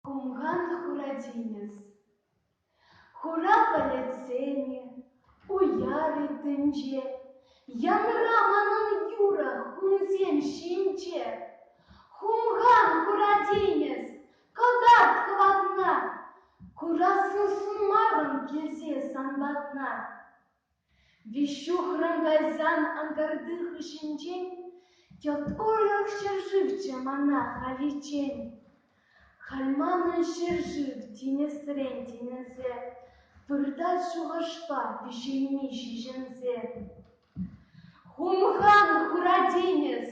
Хумхан Хурадинец Хура пӗлӗтсем-и, уяр-и тӗнче, Янра манӑн юрӑ хумсем ҫинче. Хумхан Хурадинец, кӑтарт хӑватна, Курасӑн сунмарӑм килсе сан патна. Веҫҫухран кайсан анкарти хыҫӗнчен Тяткулов ҫӗршывччӗ мана халиччен. Халь манӑн ҫӗршыв тинӗсрен-тинӗсе Выртать шухӑшпа пиҫейми ҫиҫӗнсе. Хумхан хура тинӗс,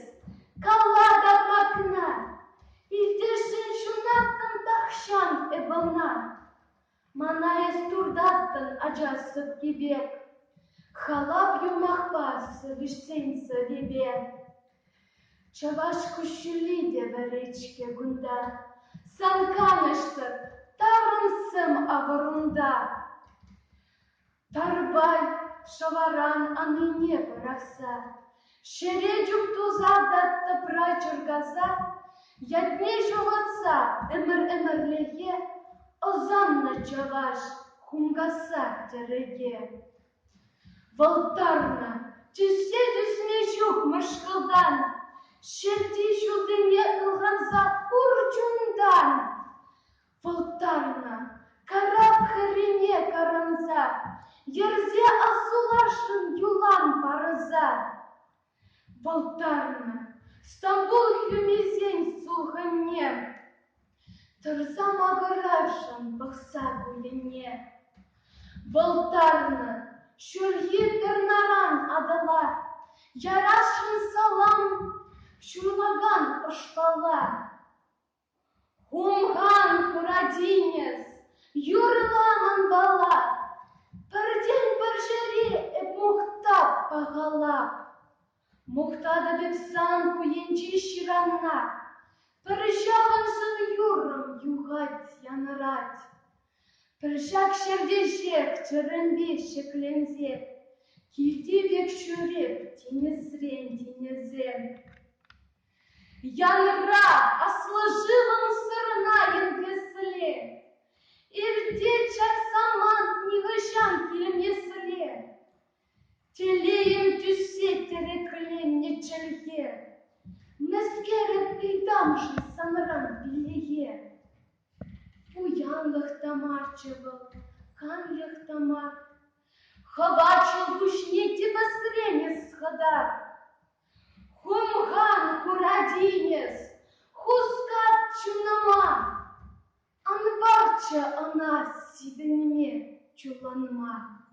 кала капакна, Илтесшӗн ҫунаттӑм тахҫан эп ӑна. Мана эс туртаттӑн, ачаш сӑпкипе, Халап юмахпа сӗвӗҫсен сӑвипе. Чӑваш куҫҫулли те вӗрет-ҫке кунта, Сан канӑҫсӑр таврӑнсам авӑрунта. Тарпай шӑваран анрине пӑрахса, ҫӗре чуптуса та тӑпра чӑркаса, ятне ҫухатса ӗмӗр-ӗмӗрлӗхе ӑсаннӑ чӑваш хумхаса тӗрӗке. Вӑлттарнӑ, тӳссе тӳсме ҫук мӑшкӑлтан, ҫерти ҫулсене ылханса пур чунтан. Пултарнӑ, карап хӗррине каранса, Йӗрсе ассулашӑн юлан парӑса. Пултарнӑ, Стамбул хӳмисен сулхӑнне, Тӑрса макӑрашӑн пӑхса кулине. Пултарнӑ, ҫурхи тӗрнаран Атӑла, Ярасшӑн салам ҫурлакан ӑшпала. Хумхан Хурадинец юрӑлла манпала, пӗртен-пӗр чӗри эп мухтап пахала. Мухтатӑп эп сан ку енчи ҫыранна, пӗр ҫавӑнсӑр юррӑм юхать, янӑрать. Пӗр ҫак ҫӗртешех чӗрӗмпе ҫӗкленсе, килти пек ҫӳреп тинӗсрен тинӗсе. Янӑра аслӑ-шывӑн сӑрӑна йӗркессӗле, ирте час самант нихӑҫан килмессӗле, телейӗм тӳссе тӗрекленнӗ чӗлхе, мӗскерӗп ыйтам-ши санран пиллӗхе? Пуянлӑх та марччӗ вӑл, канлӗх та мар, хӑвачӑл пуҫне типӗсрен ӑс хытар. Хумхан Хурадинец хускат чунӑма, ан парччӗ ӑна сисӗнме, чулланма.